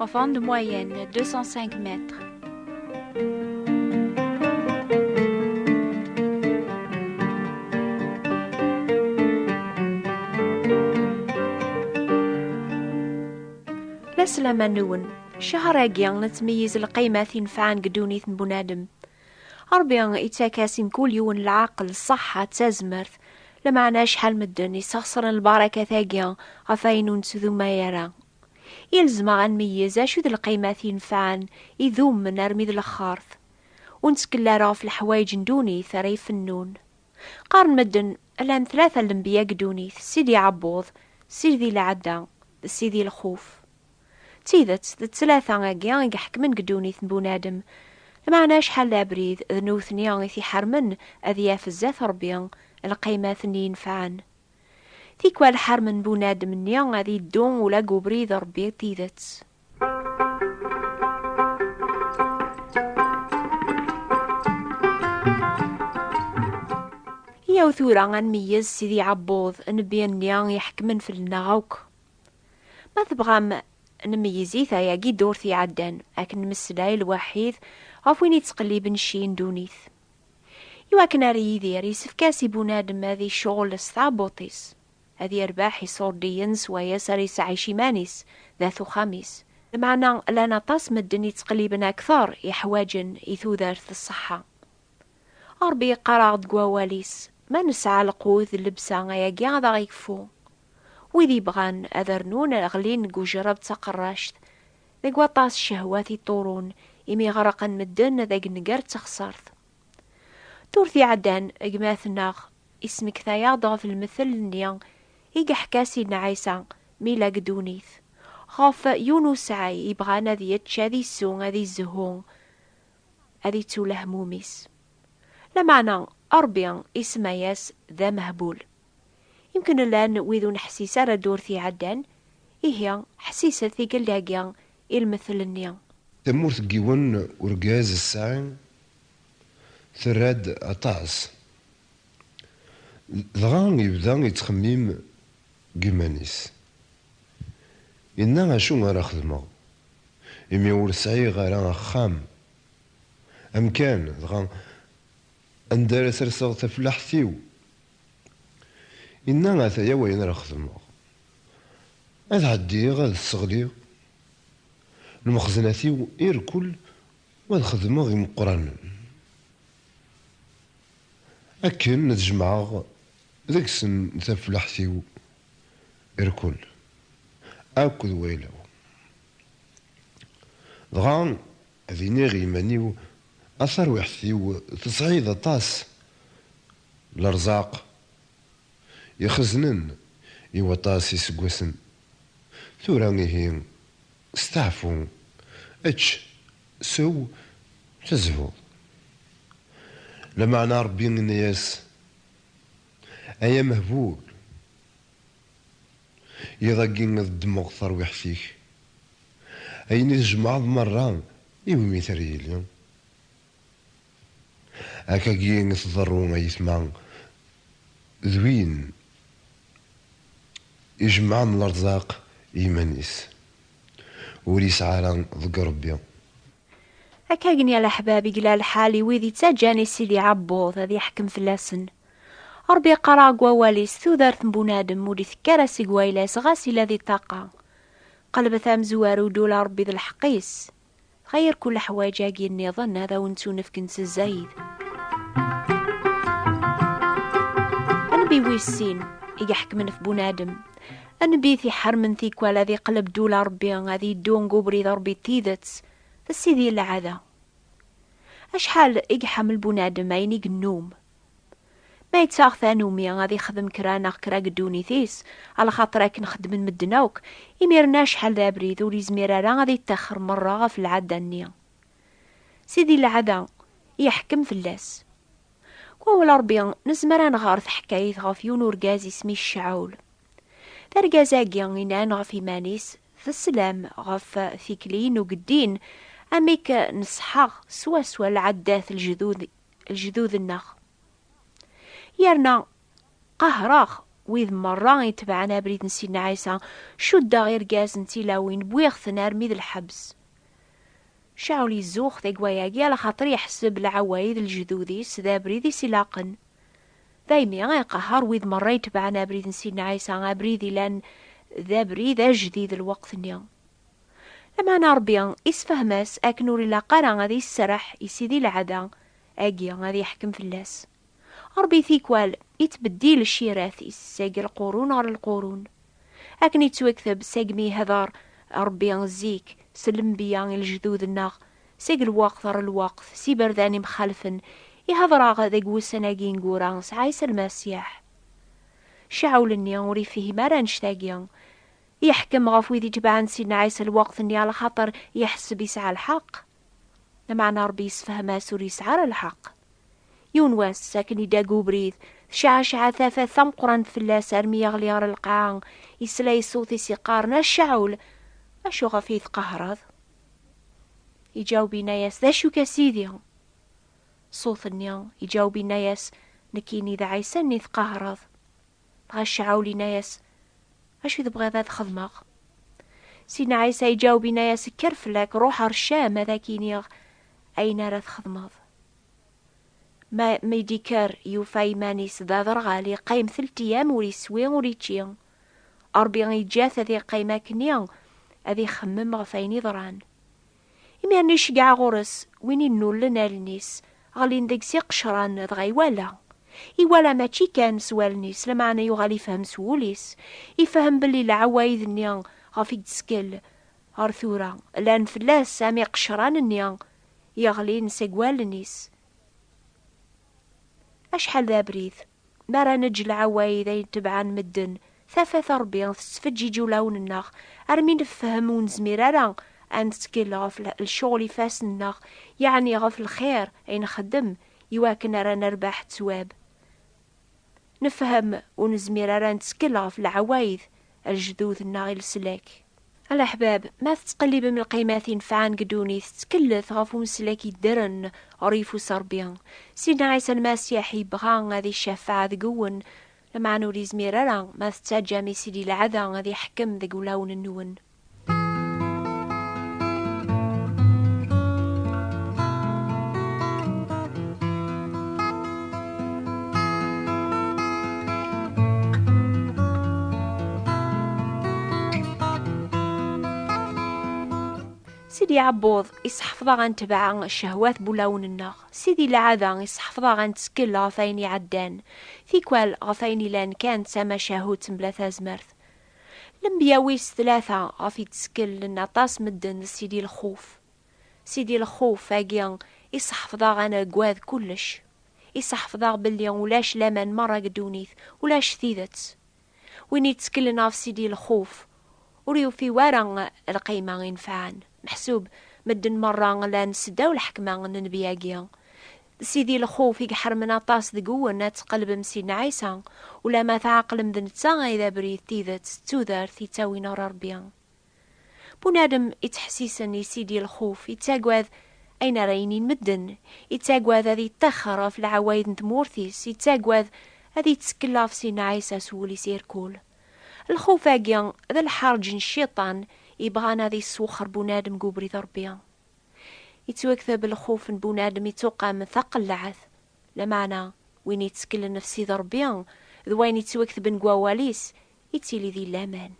En forme de moyenne, 205 mètres. La selama nwen, cehṛ-agi nettmeyyiz lqaymat inefɛen deg ddunit n bunadem. Ṛebbi ittak-as i mkul yiwen lɛaqel, ṣṣeḥḥa d tazmert, lameɛna acḥal medden isexṣren lbarakat-agi ɣef wayen ur nettduma ara I nezmer ad nmeyyez acu d lqaymat yenfɛen, idumen armi d lexxert. Ur nettkel ara ɣef leḥwayeǧ n dunit ara ifennun. Qqaren medden llan tlata n lenbiya deg dunit, Sidi Ɛebbuḍ, Sidi Lɛedda d Sidi Lxuf. D tidet, d tlata agi i iḥekmen deg dunit n bunadem, lmeɛna acḥal d abrid d newtni i t-iḥermen ad yaf zdat Rebbi lqaymat-nni yenfɛen. Tikwal ḥarmen bunadem-nni ad yeddu ula deg ubrid n Rebbi d tidet. Yaw tura ad nmeyyez Sidi Ɛebbuḍ, nnbi-nni iḥekmen fell-neɣ akk. Ma tebɣam nmeyyez-it ayagi ddurt iɛeddan, akken nmeslay lwaḥid ɣef win yettqelliben cci n ddunit. I wakken ar Yidir, yessefk-as i bunadem ad icɣel s tɛebbuṭ-is, ad yerbeḥ iṣurdiyen s wayes ara isɛic iman-is d at uxxam-is. Lmeɛna llan aṭas medden yettqelliben akteṛ iḥwaǧen i tudert d ṣṣeḥḥa. Ṛebbi yeqqar-aɣ-d deg Wawal-is, Ma nesɛa lqut d llebsa, ayagi ad aɣ-ikfu. Wid yebɣan ad rnun ɣlin deg ujṛeb d taqeṛṛact, Deg waṭas cehwat i ṭṭurun imi ɣerqen medden ad agnegar d texsart. Durt iɛeddan, gma-tneɣ ismekta-yaɣ-d ɣef lmettel-nni i yeḥka Sidna Ɛisa mi yella deg ddunit, ɣef yiwen usɛay yebɣan ad yečč, ad isew, ad izehhu, ad ittu lehmum-is. Lameɛna, Ṛebbi isemma-yas d amehbul. Imken llan wid ur neḥsis ara ddurt iɛeddan, ihi ḥessiset tikkelt-agi i lmettel-nni. Tamurt n yiwen urgaz ssaɛi terra-d aṭas. Dɣa yebda yettxemmim deg yiman-is. Yenna acu ara xedmeɣ imi ur sɛiɣ ara axxam, amkan, dɣa anda ara serseɣ tafellaḥt-iw? Inna, Ataya wayen ara xedmeɣ, ad ɛeddiɣ ad sseɣliɣ lmexzenat-iw irkul u ad xedmeɣ imeqqranen, akken ad jemɛeɣ deg-sen taflaḥt-iw irkul akk d wayla-w, dɣa. Ad iniɣ i yiman-iw, A tarwiḥt-iw, tesɛiḍ aṭas n lerẓaq ixeznen i waṭas iseggasen. Tura ihi, steɛfu, ečč, sew, tezhuḍ. Lameɛna Ṛebbi yenna-yas, Ay amehbul! Iḍ-agi ad ddmeɣ tarwiḥt-ik. Ayen i tjemɛeḍ merra i wumi-t ara yili? Akka-agi i tḍerru a yetma, d win ijemɛen lerzaq i yiman-is, ur yesɛi ara deg Rebbi. Akkagen ya leḥbab i gla lḥal i wid ittaǧǧan i Sidi Ɛebbuḍ ad yeḥkem fell-asen. Ṛebbi iqqar-aɣ deg Wawal-is, Tudert n bunadem ur d-itekki ara seg wayla-s ɣas yella di ṭṭaqa. Qelbet amezwaru, Ddu la Ṛebbi d lḥeqq-is. Dɣa yir kul leḥwayeǧ-agi nniḍen ad awen-ttunefk n tzayed. Anbi wis sin i iḥekmen ɣef bunadem? Anbit iḥarmen tikwal ad iqleb dula Rebbi, ad yeddu deg ubrid Rebbi d tidet, d sidi n lɛada. Acḥal i iḥemmel bunadem ayen i yennum. Ma yettaɣ tanumi ad ixdem kra neɣ kra deg ddunit-is, alaxaṭer akken xeddmen medden akk, imir-nni acḥal d abrid ur yezmir ara ad ittaxer merra ɣef lɛada-nni. Sidi n lɛada, iḥkem fell-as. Deg wawal n Ṛebbi, nezmer ad nɣer taḥkayt ɣef yiwen n urgaz isem-is Cawul. D argaz-agi inan ɣef yiman-is, D sslam ɣef tikli n ugeddin, amek neṣṣḥeɣ swaswa lɛaddat n lejdud-nneɣ. Yerna qehreɣ wid merra itebɛen abrid n Sidna Ɛisa, cuddeɣ irgazen d tilawin, wwiɣ-ten armi d lḥebs. Caɛul izuxx tagway-agi ala xaṭer yeḥseb lɛaway d lejdud-is d abrid i s-ilaqen. Daymi i iqehher wid merra itebɛen abrid n Sidna Ɛisa, abrid ilan d abrid ajdid lweqt-nni. Lameɛna Rebbi isefhem-as akken ur ilaq ara ad iserreḥ i Sidi Lɛada agi ad yeḥkem fell-as. Ṛebbi tikwal ittbeddil ccirat-is seg lqurun ɣer lqurun. Akken ittwekteb segmi ihder Ṛebbi zik s lenbiya i lejdud-nneɣ, seg lweqt ɣer lweqt s iberdan imxalfen, ihder-aɣ deg wussan-agi ineggura s Ɛisa Lmasiḥ. Cawul-nni ur ifhim ara annect-agi. Yeḥkem ɣef wid itebɛen Sidna Ɛisa lweqt-nni alaxaṭer iḥseb yesɛa lḥeqq. Lameɛna Ṛebbi yessefhem-as ur yesɛi ara lḥeqq. Yiwen wass, akken idda deg ubrid, tecɛeceɛ tafat tameqqrant fell-as armi yeɣli ɣer lqaɛa, yesla i ṣṣut-is yeqqaren, A Cɛul! Acu ɣef i tqehhreḍ? Iǧaweb yenna-yas, D acu-k a Sidi? Ṣṣut-nni iǧaweb yenna-yas, Nekkini d Ɛisa-nni tqehhreḍ. dɣa Cɛul inna-yas, Acu i tebɣiḍ ad xedmeɣ? Sidna Ɛisa iǧaweb inna-yas, Kker fell-ak, ruḥ ar Cam ad ak-iniɣ ayen ara txedmeḍ. Ma mi d-ikker yufa iman-is d aderɣal, iqqim telt iyam ur iswi ur ičči. Ṛebbi iǧǧa-t ad iqqim akkenni ad ixemmem ɣef ayen iḍran. Imi armi iceggeɛ ɣur-s win innullen allen-is, ɣlin deg-s iqecran, dɣa iwala. Iwala mačči kan s wallen-is, lameɛna yuɣal ifhem s wul-is, ifhem belli lɛawayd-nni ɣef i yettkel ɣer tura, llan fell-as am iqecran-nni yeɣlin seg wallen-is. Acḥal d abrid! Mi ara neǧǧ lɛawayd ay tebɛan medden, tafat n Rebbi tettfeǧǧiǧ ulawen-nneɣ armi nefhem ur nezmir ara ad nettkel ɣef lecɣel ifassen-nneɣ, yeɛni ɣef lxir ay nxeddem iwakken ara nerbeḥ ttwab. Nefhem ur nezmir ara ad nettkel ɣef lɛawayd lejdud-nneɣ i leslak. A leḥbab, ma tettqellibem lqimat inefɛen deg ddunit, ttkellet ɣef umeslak yeddren ɣer yeffus n Ṛebbi. Sidna Ɛisa Lmasiḥ yebɣa ad icafeɛ deg-wen, lameɛna ur yezmir ara ma tettaǧǧam i Sidi Lɛada ad iḥkem deg wulawen-nwen. Sidi Ɛebbuḍ isseḥfeḍ-aɣ ad netbeɛ ccehwat n wulawen-nneɣ. Sidi Lɛada isseḥfeḍ-aɣ ad nettkel ɣef wayen iɛeddan. Tikwal ɣef wayen ilan kan d tamacahut mebla tazmert. Lenbiya wis tlata ɣef i d-ttkellen aṭas medden d Sidi Lxuf. Sidi Lxuf agi iseḥfeḍ-aɣ ad nagad kullec. Iseḥfeḍ-aɣ belli ulac laman merra deg ddunit, ulac tidet. Win yettkellen ɣef Sidi Lxuf ur yufi wara lqima inefɛen. Meḥsub medden merra llan seddaw lḥekma n nnbi-agi. Sidi lxuf i iḥermen aṭas deg-wen ad tqelbem Sidna Ɛisa, ulamma tɛeqlem d netta ay d abrid, tidet d tudert yettawin ɣer Rebbi. Bunadem yettḥessisen i Sidi lxuf, yettagad ayen ara inin medden, yettagad ad yeṭṭixxer ɣef leɛwayed n tmurt-is, yettagad ad yettekkel ɣef Sidna Ɛisa s wul-is irkul. Lxuf-agi d lḥerǧ n Cciṭan yebɣan ad yesswexxer bunadem deg ubrid n Rebbi. Ittwakteb lxuf n bunadem ittuqam taqellaɛt, lameɛna win itteklen ɣef Sidi Rebbi d wayen ittwaktben deg wawal-is ittili di laman.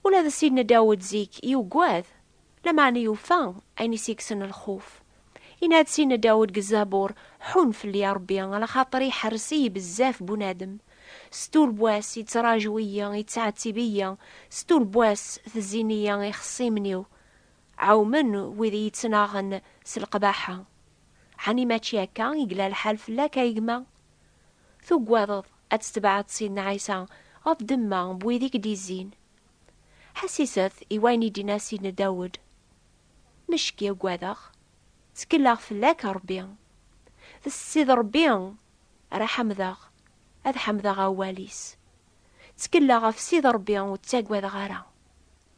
Ula d Sidna Dawed zik yugad, lameɛna yufa ayen i s-yekksen lxuf. Yenna-d Sidna Dawed deg Zabur, Ḥunn fell-i, a Rebbi, alaxaṭer iḥerres-iyi bezzaf bunadem. Setu n wass yettraǧu-iyi, yettɛettib-iyi, setu n wass tezzin-iyi ixṣimen-iw. Ɛewmen wid i yi-ttnaɣen s leqbaḥa. Ɛni mačči akka i yella lḥal fell-ak a gma? Tugadeḍ ad tetbeɛeḍ Sidna Ɛisa ɣef ddemma n wid i k-d-izzin? Ḥessiset i wayen i d-yenna Sidna Dawed, Mecki uggadeɣ, ttekleɣ fell-ak a Rebbi. D Ssid Rebbi ara ḥemdeɣ, ad ḥemdeɣ awal-is. Ttekleɣ ɣef Ssid Rebbi ur ttagadeɣ ara.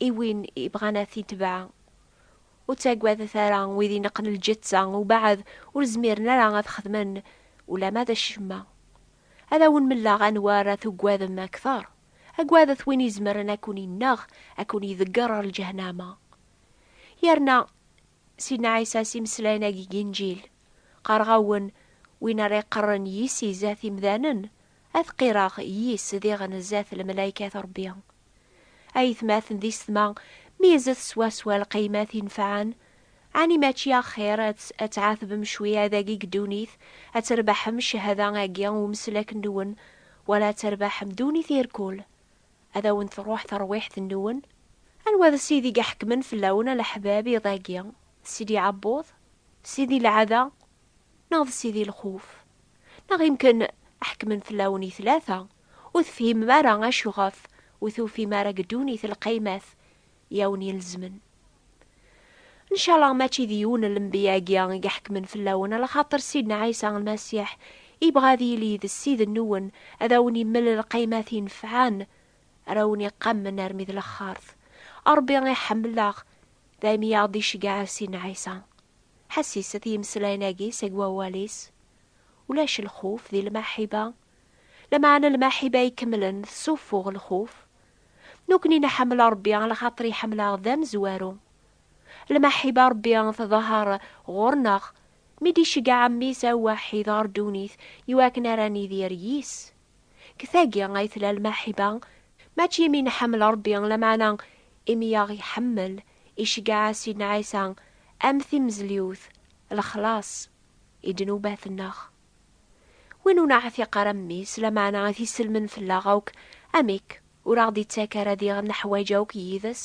I win ibɣan ad t-itbeɛ, ur ttagadet ara wid ineqqen lǧetta ubeɛd ur zmiren ara ad xedmen ulamma d acemma. Ad awen-melleɣ anwa ara tugadem akteṛ, agadet win izemren ad ken-ineɣ, ad ken-idegger ɣer lǧehnama. Yerna Sidna Ɛisa s imeslayen-agi n Inǧil, Qqareɣ-awen, win ara iqerren yis-i zdat imdanen, Ad qqireɣ yis diɣen zdat lemlaykat Rebbi. Aytmaten di setma, mizet swaswa lqiymat inefɛen. Ɛni mačči axxir ad tɛatbem cwi adagi deg ddunit, ad terbeḥem cchada agi n umeslak-nwen, wala ad terbeḥem ddunit irkul? Ad awen-truḥ terwiḥt-nwen? Anwa d Sidi i iḥekmen fell-awen a leḥbab iḍ-agi? Sidi Ɛebbuḍ? Sidi Lɛada? neɣ d sidi lxuf, neɣ imken ḥekmen fell-awen i tlata, ur tefhimem ara acu ɣef ur tufim ara deg ddunit lqaymat i awen-ilezmen. Ncalaɣ mačči d yiwen n lenbiya-agi i iḥekmen fell-awen, ala xaṭer Sidna Ɛisa Lmasiḥ yebɣa ad yili d Ssid-nwen, ad awen-imel lqaymat inefɛen, ara awen-iqammen armi d laxert. Ṛebbi iḥemmel-aɣ, dayem i aɣ-d-iceggeɛ Sidna Ɛisa. Ḥasis at yimeslayen agi seg wawal-is, Ulac lxuf di lmaḥiba, lameɛna lmaḥiba ikemlen tessufuɣ lxuf. Nukni nḥemmel Rebbi lxaṭer iḥemmel-aɣ d amezwaru. Lmaḥiba Rebbi tḍehher ɣur-neɣ mi d-iceggeɛ Mmi-s awwaḥid ɣer ddunit i wakken ara nidir yis. Deg tagi ay tella lmaḥiba, mačči imi nḥemmel Ṛebbi, lameɛna imi i aɣ-iḥemmel, iceggeɛ-as Sidna Ɛisa am timezliwt, lexlaṣ i ddnubat-nneɣ. Win ur neɛtiq ara mmi-s, lameɛna ad t-isselmen fell-aɣ akk, amek ur aɣ-d-ittak ara diɣ neḥwaǧ akk yid-s?